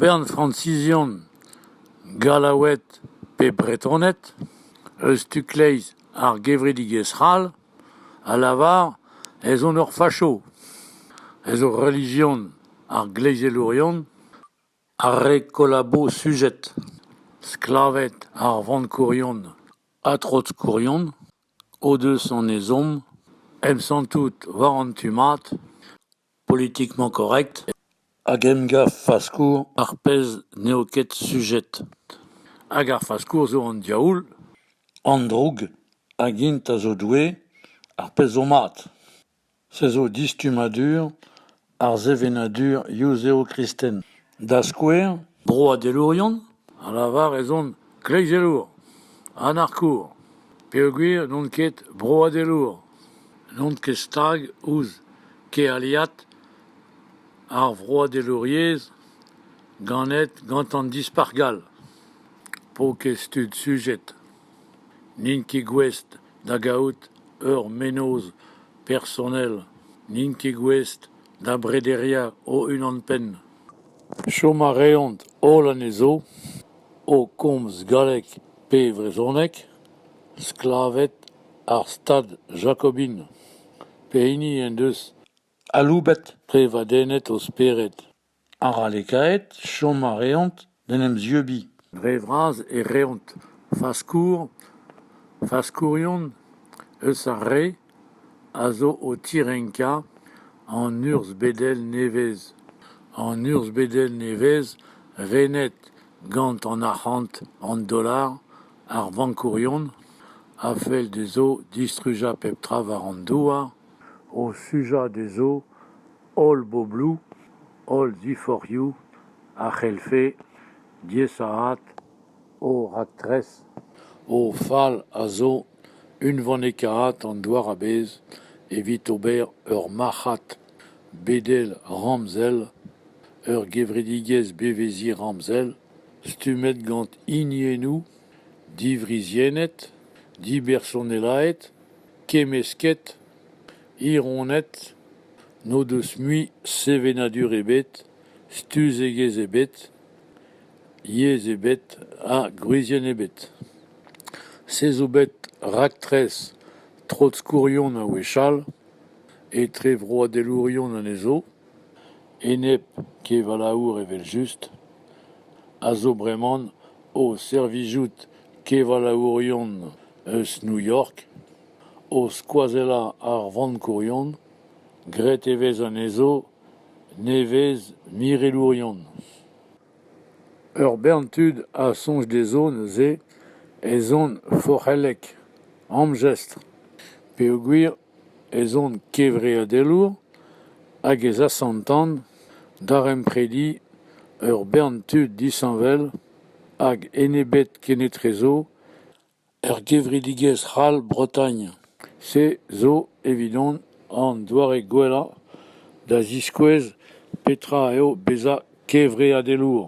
Bern Fransizion, Gallaoued pe Bretoned, eus tu-kleiz ar gevredigezh c'hall, a lavar ez on ur facho, ez eo relijion ar gleizelourion ar re kollabo sujed, sklaved ar vankourion ha trotskourion o deus an ezhomm emsantout war an tu mat politiquement correct hag emgav faskour ar pezh n'eo ket sujet. Hag ar faskour zo an diaoul. An droug hag int a zo Doue, ar pezh zo mat. Se zo distummadur ar sevenadur yuzev-kristen. Da skouer, broadelourion a lavar ez ont kleizelour, anarkour, peogwir n'on ket broadelour, n'on ket stag ouzh kealiad ar vroadelouriezh ganet gant an Dispac'h gall. Paour-kaezh tud sujet. N'int ket gouest da gaout ur mennozh personel, n'int ket gouest da brederiañ o-unan-penn. Chom a reont holl anezho o komz galleg pe brezhoneg, sklaved ar stad jakobin, pehini en deus aloubet prevadennet o spered. Arallekaet, chom a reont d'en em zieubiñ. Dre vras e reont faskour, faskourion eus ar re a zo o tirenkañ an urzh-bedel nevez, an urzh-bedel nevez renet gant an arc'hant, an dollar, ar vankourion a fell dezho distrujañ pep tra war an douar, o sujañ dezho Holl bobloù, holl ziforc'hioù a c'hellfe diaesaat o raktres. O fal a zo unvanekaat an douar a-bezh evit ober ur marc'had bedel ramzel, ur gevredigezh beveziñ ramzel stummet gant hiniennoù, divriziennet, dibersonelaet. kemmesket, hironed, n'o deus mui sevenadur ebet, stuzegezh ebet, yezh ebet ha gwrizienn ebet. Se zo bet raktres trotskourion a-wechall etre vroadelourion anezho, enep kevalaour evel-just, a zo breman o servijout kevalaourion eus New York, o skoazellañ ar vankourion, graet e vez anezho nevez-mirelourion. Ur bern tud a soñj dezho neuze ez ont forc'hellek, amjestr, peogwir ez on kevreadelour hag ez asantan daremprediñ ur bern tud disheñvel hag enebet kenetrezo Er gevredigezh c'hall Bretagne se zo evidon an doare gwellañ da ziskouez petra eo bezañ kevreadelour.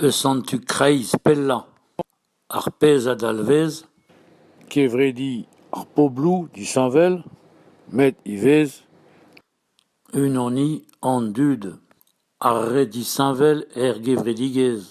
Eus an tu kreiz pellañ, ar pezh a dalvez kevrediñ ar pobloù disheñvel met ivez Unaniñ an dud, ar re disheñvel er gevredigezh.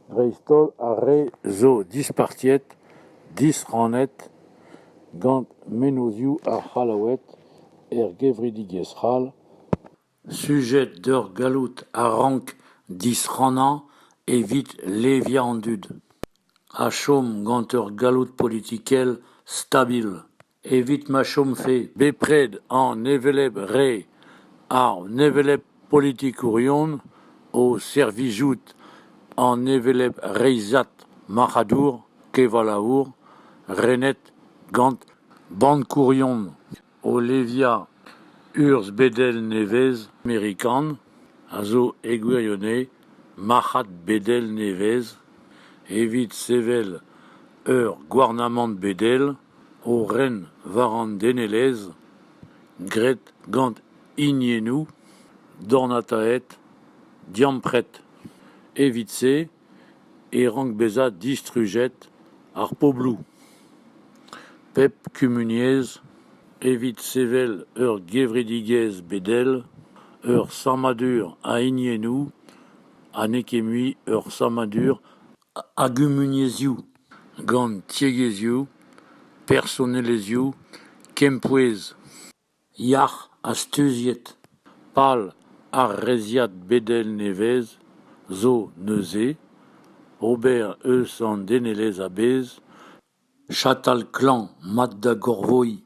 Dreist-holl ar re zo dispartiet, disrannet gant mennozhioù ar C'hallaoued er gevredigezh c'hall. Sujet d'ur galloud a rank disrannañ evit leviañ an dud, ha chom gant ur galloud politikel stabil. evit ma chomfe bepred an hevelep re, an hevelep politikourion o servijout an hevelep reizhad marc'hadour, kevalaour, renet gant bankourion o leviañ urzh-bedel nevez-amerikan, a zo e gwirionez marc'had-bedel nevez, evit sevel ur gouarnamant bedel O ren war an denelezh, graet gant hiniennoù dornataet, diampret. Evit-se e rank bezañ distrujet ar pobloù. Pep kumuniezh, evit sevel ur gevredigezh bedel, ur sammadur a hiniennoù ha n'eo ket mui ur sammadur a gumuniezhioù, gant tiegezhioù, personelezhioù, kempouez, yac'h ha steuziet. Pal ar reizhiad bedel nevez zo neuze ober eus an denelezh a-bezh Chatal klañv mat da gorvoiñ.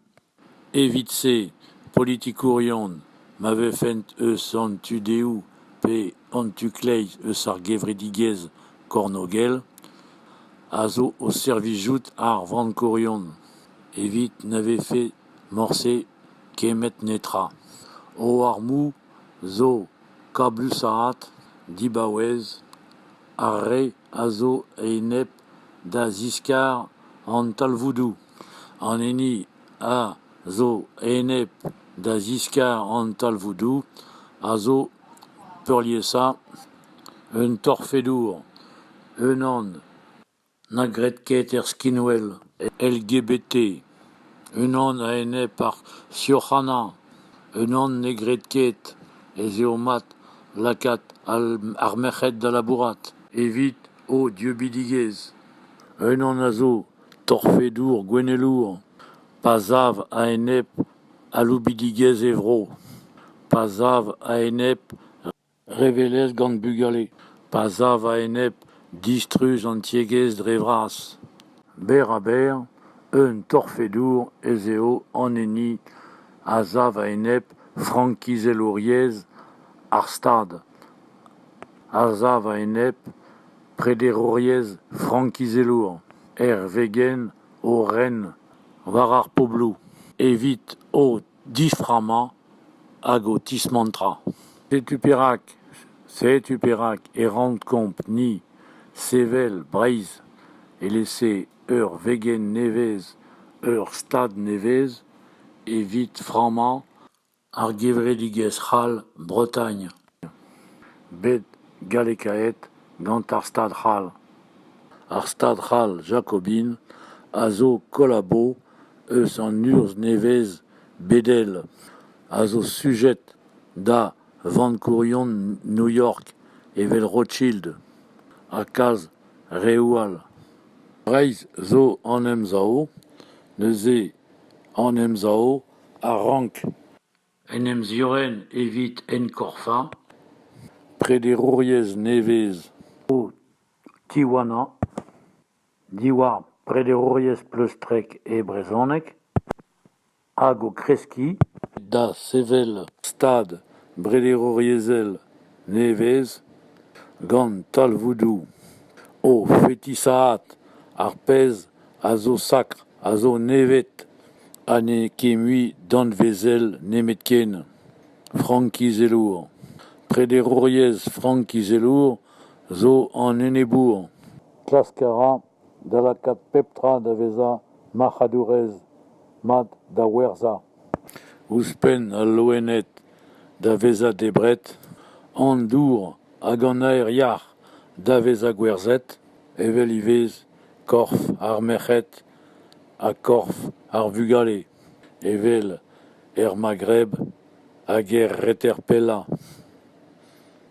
Evit-se, politikourion, ma vefent eus an tu-dehoù pe an tu-kleiz eus ar gevredigezh kornôgel, a zo o servijout ar vankourion evit na vefe morse kemmet netra. O armoù zo kabousaat, dibaouez, ar re a zo a-enep da ziskar an talvoudoù an hini a zo enep da ziskar an talvoudoù a zo peurliesañ un torfedour unan na gred ket er skinwel LGBT Unan a-enep ar sioc'hana, unan ne gred ket ez eo mat lakaat ar merc'hed da labourat evit o dieubidigezh. Unan a zo torfedour gouennelour pa sav a-enep aloubidigezh e vro, pa sav a-enep Revelezh gant bugale pa sav a-enep distruj an tiegezh dre vras. Berr-ha-berr, un torfedour ez eo an hini a sav a-enep frankizelouriezh ar Stad, a sav a-enep prederouriezh frankizelour er vegenn o ren war ar pobloù, evit o diframmañ hag ho tismantrañ. Setu perak, setu perak e raont kompr ni sevel Breizh evel-se ur vegenn nevez, ur stad nevez evit frammañ ar gevredigezh c'hall Bretagne. bet gallekaet gant ar Stad c'hall. Ar Stad c'hall jakobin a zo kollabo eus an urzh nevez bedel a zo sujet da vankourion New York evel Rothschild ha kalz reoù all. Breizh zo an emsav, neuze an emsav a rank. En em ziorren evit enkorfañ prederouriezh nevez o tiwanañ diwar prederouriezh pleustrek e brezhoneg hag o kreskiñ da sevel stad brederouriezhel nevez gant talvoudoù o fetisaat ar pezh a zo sakr a zo nevet. ha n'eo ket mui danvezel nemetken frankizelour. Prederouriezh frankizelour zo an enebour. Klask a ra da lakaat pep tra da vezañ marc'hadourez mat da werzhañ. Ouzhpenn al loened da vezañ debret, an dour hag an aer yac'h da vezañ gwerzhet, evel ivez korf ar merc'hed ha korf ar vugale evel er Maghreb hag er reter-pellañ,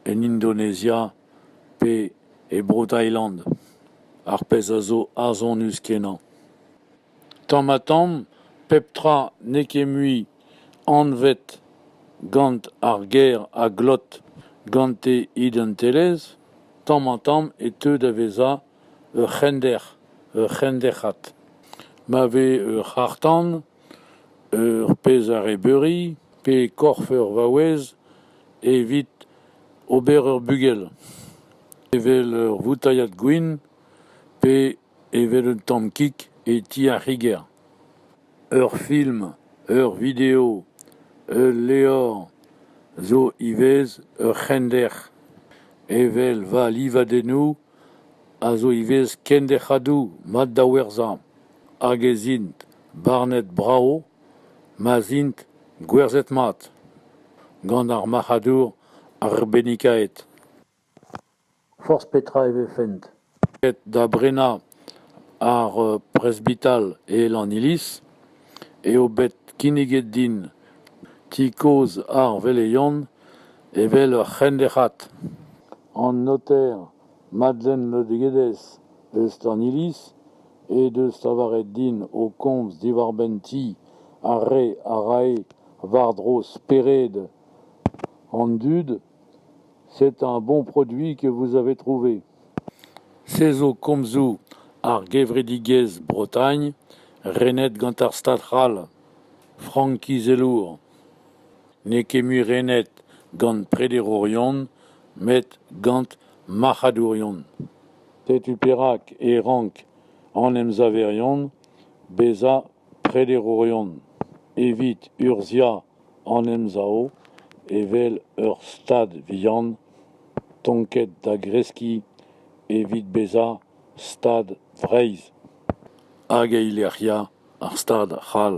en Indonezia pe e Bro-Tailand, ar pezh a zo arzhonus-kenañ. Tamm-ha-tamm pep tra n'eo ket mui anvet gant ar ger a glot gante identelezh, tamm-ha-tamm e teu da vezañ Ur c'hender, ur c'henderc'had. Ma vez ur c'harr-tan, ur pezh arrebeuri pe korf ur vaouez evit ober ur bugel, evel ur voutailhad gwin pe evel un tamm kig e ti ar c'higer. Ur film, ur video, ul levr zo ivez ur c'hender, evel va livadennoù. a zo ivez kenderc'hadoù mat da werzhañ hag ez int barnet brav ma'z int gwerzhet-mat gant ar marc'hadour arbennikaet. Forzh petra e vefent aet da brenañ ar presbital e Lanniliz eo bet kinniget din ti kozh ar Veleion evel ur c'henderc'had. An noter Madlen Rodriguez eus an iliz he deus lavaret din o komz diwar-benn ti ar re a rae war-dro spered an dud. C'est un bon produit que vous avez trouvé. Se zo komzoù ar gevredigezh Bretagne renet gant ar Stad c'hall, frank-izelour. N'eo ket mui renet gant prederourion met gant marc'hadourion. Setu perak e rank an emsaverion bezañ prederourion evit urzhiañ an emsav evel ur stad vihan tonket da greskiñ evit bezañ Stad Vreizh hag eilec'hiañ ar Stad c'hall.